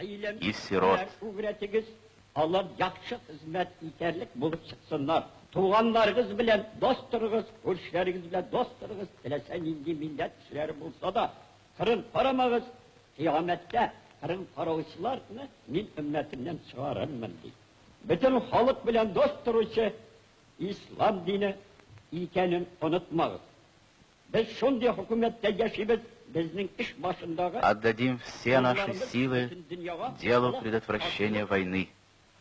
Исерот. Алар яхшы хезмәт итәрлек булып чыксыннар. Туганнарыгыз белән дос торыгыз, күршеләрегез белән дос торыгыз, теләсә нинди милләт кешеләре булса да, кырын карамагыз, кыямәттә кырын караучыларны мин өммәтемнән чыгарырмын, ди. Бөтен халык белән дос торучы Ислам дине икәнен онытмагыз. Без шундый хөкүмәттә яшибез, безнең эш башындагы. Отдадим все наши силы делу предотвращения войны,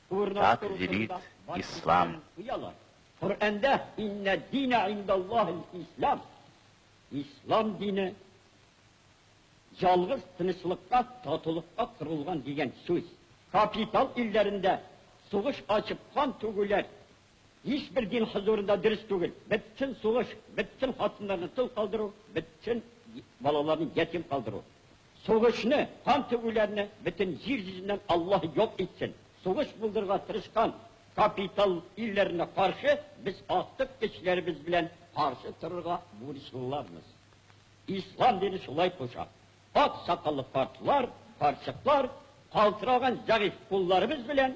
так велит ислам. Коръәндә иннә динә индаллаһил ислам, ислам дине ялгыз тынычлыкка, татулыкка корылган дигән сүз. Капитал илләрендә сугыш ачып кан түгүләр Һичбер дин хозурында дөрес түгел. Бетсен сугыш, бетсен хатыннарны тол калдыру, бетсен балаларны ятим калдыру. Сугышны, кан түгүләрне бөтен җир йөзеннән Аллаһ юк итсен. Сугыш булдырырга тырышкан капитал илләренә каршы без актык көчләребез белән каршы торырга бурычлыларбыз. Ислам дине шулай куша. Ак сакаллы картлар, карчыклар калтыраган зәгыйфь кулларыбыз белән